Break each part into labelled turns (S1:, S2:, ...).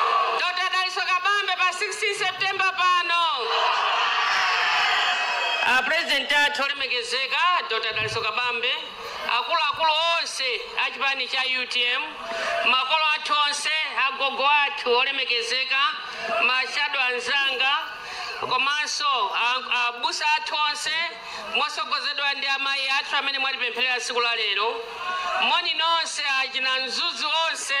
S1: Dr. Dalitso Kabambe pa 16 September pano. A president athu olemekezeka a Dr. Dalitso Kabambe, akuluakulu onse a chipani cha utm, makolo athu onse, agogo athu olemekezeka, mashado anzanga, komanso a- abusa athu onse mosogozedwa ndi amayi athu amene mwatipempherera tsiku la lero. Moni nonse achina Mzuzu onse.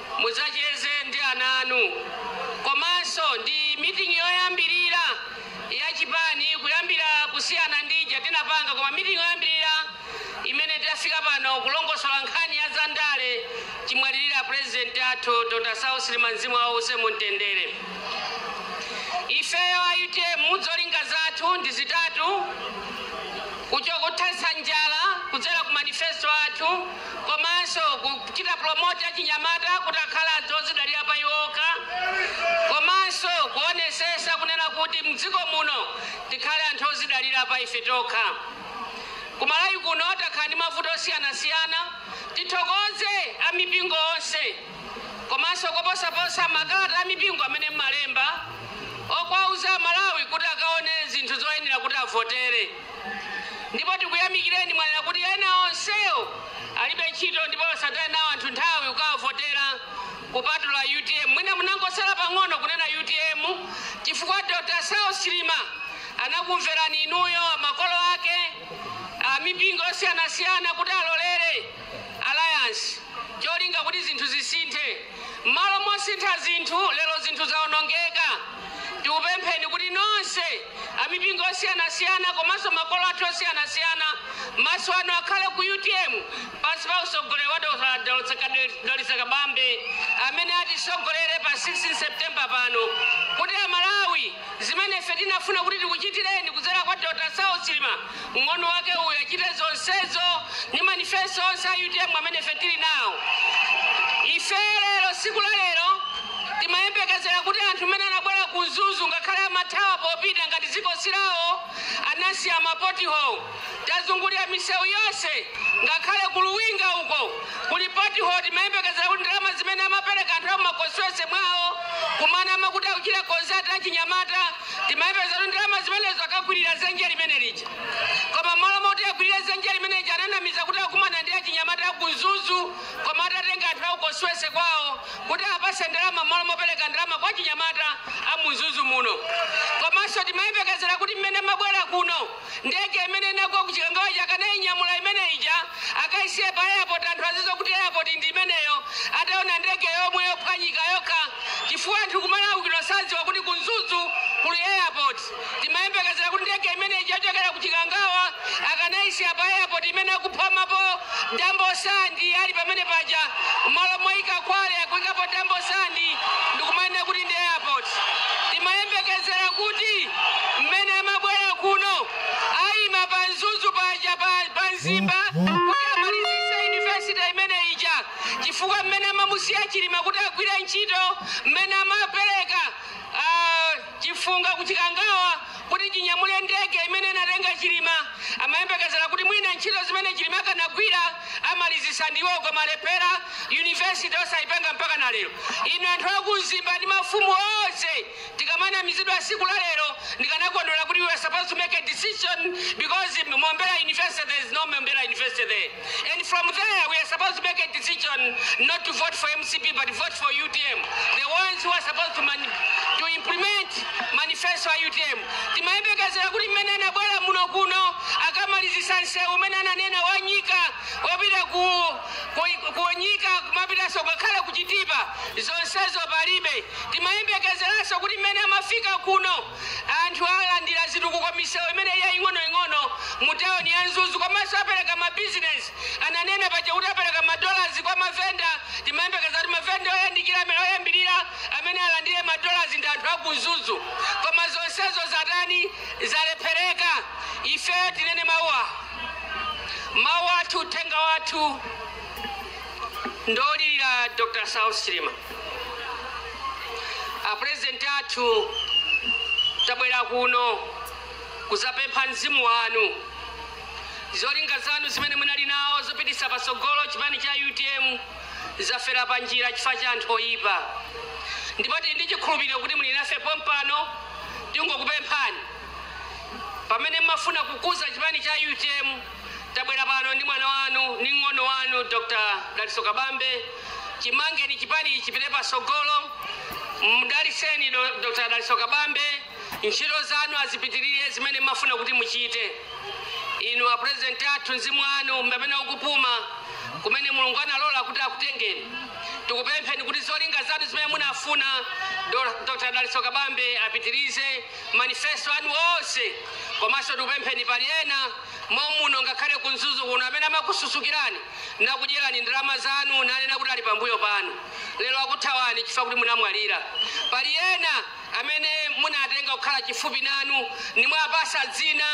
S1: Mudzacheze ndi ana anu komanso ndi meeting yoyambirira ya chipani kuyambira kusiyana ndi ija tinapanga koma meeting yoyambirira imene tafika pano kulongosola nkhani ya za ndale chimwalirira president athu Dr. Saulos Chilima mzimu wawo uuse mu mtendere. Ifeyo a utm zolinga zathu ndi zitatu kucho kuthetsa njala kudzera ku manifesto athu komanso kuchita promote achinyamata kuti akhale anthu odzidalira pa iwo okha komanso kuonesesa kunena kuti mdziko muno tikhale anthu odzidalira pa ife tokha. Ku Malawi kuno takhala ndi mavuto osiyanasiyana, tithokoze a mipingo onse komanso koposaposa makalata a mipingo amene mmalemba okwauza a Malawi kuti akaone zinthu zoyenera kuti avotere. Ndipo tikuyamikireni mwanena kuti ena onsewo alibe ntchito ndipo asataye nawo anthu nthawi kukawavotera kupatula utm. Mwina munangosala pang'ono kunena utm chifukwa Dr Saulos Chilima anakumverani inuyo, makolo ake, amipingo yosiyanasiyana kuti alolere. Alliance cholinga kuti zinthu zisinthe. Mmalo mosintha zinthu lero zinthu zaonongeka. Tikupempheni kuti nonse amipingo yosiyanasiyana komanso makolo athu osiyanasiyana maso anu akhale ku utm pansi pa usogoleri wa Dr. Dalitso Ka- Dalitso Kabambe amene atisogolere pa 16 September pano kuti Amalawi zimene ife tinafuna kuti tikuchitireni kudzera kwa Dr. Saulos Chilima Mng'ono wake uyu achite zonsezo, ndi manifesto onse a utm amene ife tiri nawo. Ife lero, tsiku la lero, timayembekezera kuti anthu mmene anabwera ku Mzuzu, ngakhale amathawa popita ngati dziko si lawo, anasiya ma pothole. Tazungulira misewu yonse, ngakhale ku Luwinga uko kuli pothole. Timayembekezera kuti ndalama zimene amapereka anthu a mu ma constituency mwawo, kumana amakuti akuchita consult achinyamata. Timayembekezera kuti ndalama zimenezo akakwilira dzenje limene lija. Koma mmalo moti akwilire dzenje limene lija ananamiza kuti akumana ndi achinyamata aku Mzuzu koma atatenga anthu a ku constituency kwawo kuti awapatse ndalama mmalo mopereka ndalama kwa achinyamata a mu Mzuzu muno. Komanso timayembekezera kuti mmene amabwera kuno. Ndege imene inagwa ku Chikangawa ija akanainyamula imene ija akaisiye pa airport anthu azidziwa kuti airport ndi imeneyo ataona ndege yomwe yophwanyika yokha chifukwa anthu ku Malawi kuno sadziwa kuti ku Mzuzu kuli airport. Timayembekezera kuti ndege imene ija yochokera ku Chikangawa akanaisiya pa airport imene akupomapo. Dambo Sand ali pamene paja mmalo moika kwale akuikapo Dambo Sand ndikumanena kuti ndi airport. Timayembekezera kuti mmene amabwera kuno aima pa Mzuzu paja pa, pa Mzimba kuti amalizitse university imene ija chifukwa mmene amamusiya Chilima kuti agwire ntchito mmene amapereka ah, Chifunga ku Chikangawa kuti chinyamule ndege imene inatenga Chilima. Amayembekezera kuti mwina ntchito zimene Chilima akanagwira amalizitsa ndi iwowo koma alephera. University osayipanga mpaka na lero. Inu anthu a ku Mzimba ndi mafumu onse tikamanamizidwa tsiku la lero ndikanakondwera kuti we are supposed to make a decision because Mombera University there is no Mombera University there. and from there we are supposed to make a decision not to vote for mcp but vote for utm the ones who are supposed to, mani to implement manifesto ya utm timayembekezera kuti mmene anabwera muno kuno akamalizisa nsewu umene ananena wa Nyika wopita ku, ku, ku Nyika kumapitanso ngakhale ku Chitipa zonsezo palibe timayembekezeranso kuti mmene amafika kuno Anthu alandira zitukuko misewu imene yaing'onoing'ono mu tawuni ya Mzuzu komanso apereka mabizinesi. Ananena paja kuti apereka madolars kwa mavenda, timayembekeza kuti mavenda oyandikira amene oyambirira amene alandire madolars ndi anthu aku Mzuzu. Koma zonsezo zatani? Zalephereka. Ifeyo tinene mawu awa. Mawu athu, uthenga wathu. Ndolira Dr Saulos Chilima a president athu tabwera kuno kuzapempha mzimu wanu zolinga zanu zimene munali nawo zopitisa pasogolo chipani cha utm zafera pa njira chifukwa cha anthu oyipa ndipo tili ndi chikhulupiriro kuti muli nafe pompano tingokupemphani pamene mmafuna kukuza chipani cha utm Tabwera pano ndi mwana wanu ndi mng'ono wanu Dr. Dalitso Kabambe. Chimangeni chipani chipite patsogolo. Mdalitseni do- Dr. Dalitso Kabambe. Ntchito zanu azipitirire zimene mmafuna kuti muchite. Inu a president athu mzimu wanu pamene ukupuma kumene Mulungu analola kuti akutengeni. Tikupempheni kuti zolinga zanu zimene munafuna Do- Dr. Dalitso Kabambe apitirize manifesto anu onse komanso tikupempheni pali ena mommuno ngakhale ku Mzuzu kuno amene amakususukirani nakudyerani ndalama zanu nanena kuti ali pambuyo panu lero akuthawani chifukwa kuti munamwalira. Pali ena amene munatenga kukhala chifupi nanu nimwapasa dzina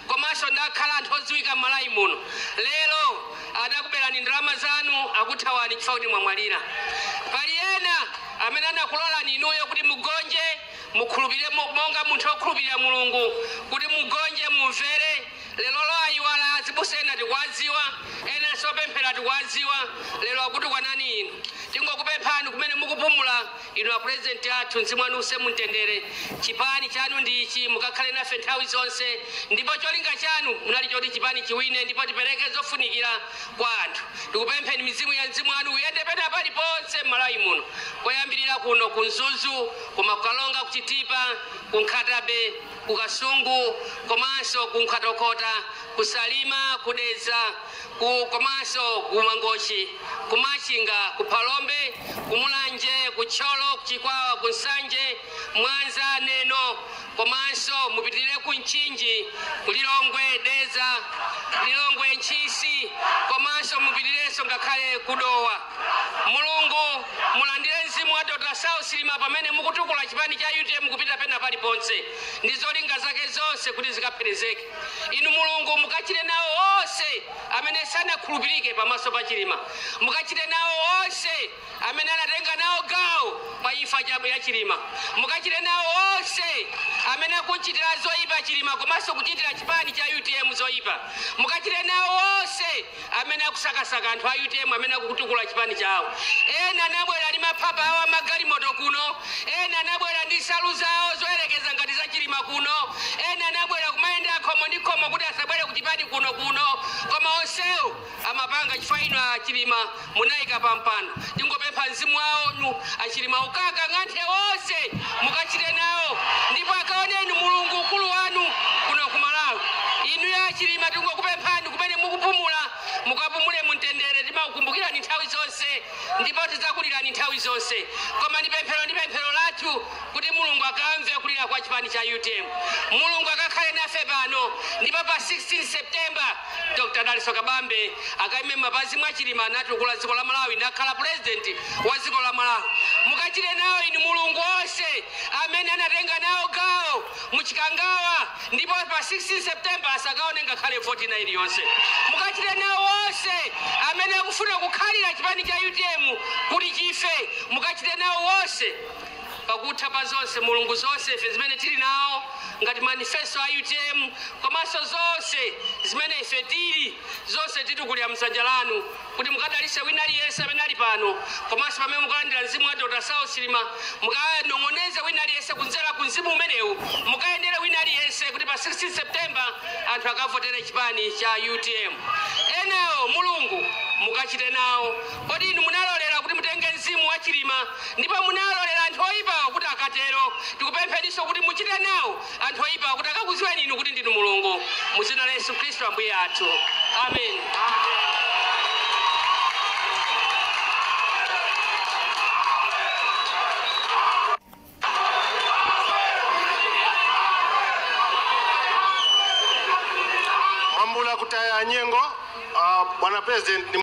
S1: komanso nakhala anthu odziwika m'Malawi muno lero anakuberani ndalama zanu akuthawani chifukwa kuti mwamwalira. Pali ena amene anakulolani inuyo kuti mugonje Mukhulupirire monga munthu okhulupirira Mulungu, kuti mugonje, mumvere. Lerolo ayiwala azibusa ena tikuwadziwa, enanso opemphera tikuwadziwa, lero akutukwanani inu. Tingokupemphani kumene mukupumula inu a president athu mzimu wanu uuse mumtendere, chipani chanu ndi ichi mukakhale nafe nthawi zonse ndipo cholinga chanu chinali choti chipani chiwine ndipo tipereke zofunikira kwa anthu. Tikupempheni mizimu ya mzimu wanu uyende pena paliponse mmalawi muno koyambirira kuno ku Mzuzu, Koma ku Karonga, ku Chitipa, ku Nkhata-bay, ku Kasungu komanso ku Nkhotakota, ku Salima, ku Dedza komanso ku Mangochi, ku Machinga, ku Phalombe, ku Mulanje, ku Thyolo, ku Chikwawa, ku Nsanje, Mwanza, Neno komanso mupitirire ku Mchinji, ku Lilongwe, Dedza, Lilongwe, Ntchisi komanso mupitirirenso ngakhale ku Dowa. Mulungu mulandire mzimu wa Dr Saulos Chilima pamene mukutukula chipani cha utm kupita pena paliponse ndi zolinga zake zonse kuti zikapherezeke. Inu Mulungu mukachite nawo onse amene sanakhulupirike pamaso pa Chilima. Mukachite nawo onse amene anatenga nawo gawo pa imfa cha ya Chilima. Mukachite nawo onse amene akuchitira zoipa Chilima komanso kuchitira chipani cha utm zoipa. Mukachite nawo onse amene akusakasaka anthu a utm amene akukutukula chipani chawo ena anabwera ndi maphapa awo amagalimoto kuno ena anabwera ndi nsalu zawo zoyerekeza ngati za chilima kuno ena anabwera kumayenda khomo ndi khomo kuti asabwere ku chipani kuno kuno koma onsewo amapanga chifukwa inu a chilima munaika pa mpando tingopempha mzimu wanu achilima ukakang'anthe onse mukachite nawo ndipo akaoneni mulungu ukulu wanu kuno ku malawi inuyo achilima tingokupemphani kumene mukupumula mukapumule mumtendere timakukumbukirani nthawi zonse ndipo tidzakulirani nthawi zonse koma ndi pemphero ndi pemphero lathu kuti mulungu akamve kulira kwa chipani cha utm mulungu akakhale nafe pano ndipo pa 16 september Dr Dalitso Kabambe akaime mapazi mwa Chilima natukula dziko la Malawi nakhala president wa dziko la Malawi. Mukachite nawo inu Mulungu onse amene anatenga nawo gawo mu Chikangawa ndipo pa 16 September asakaone ngakhale voti ina iliyonse. Mukachite nawo onse amene akufuna kukhalira chipani cha UTM kuti chife. Mukachite nawo onse Pakutha pa zonse Mulungu zonse ife zimene tili nawo ngati manifesto a utm komanso zonse zimene ife tili zonse tikutulira mdzanja lanu kuti mukadalitse wina aliyense amene ali pano komanso pamene mukalandira mzimu wa Dr saulos chilima mukanong'oneze wina aliyense kudzera ku mzimu umenewu mukayendere wina aliyense kuti pa 16 September anthu akavotere chipani cha utm enawo Mulungu mukachite nawo Kodi inu munalolera kuti mutenge mzimu wa Chilima ndipo munalolera anthu oyipawa kuti akatero? Tikupempheninso kuti muchite nawo anthu oyipawa kuti akakuziweni inu kuti ndinu Mulungu mu dzina la Yesu Khristu Ambuye athu. Amen.
S2: Mwambula kutaya nyengo uh, bwana president ni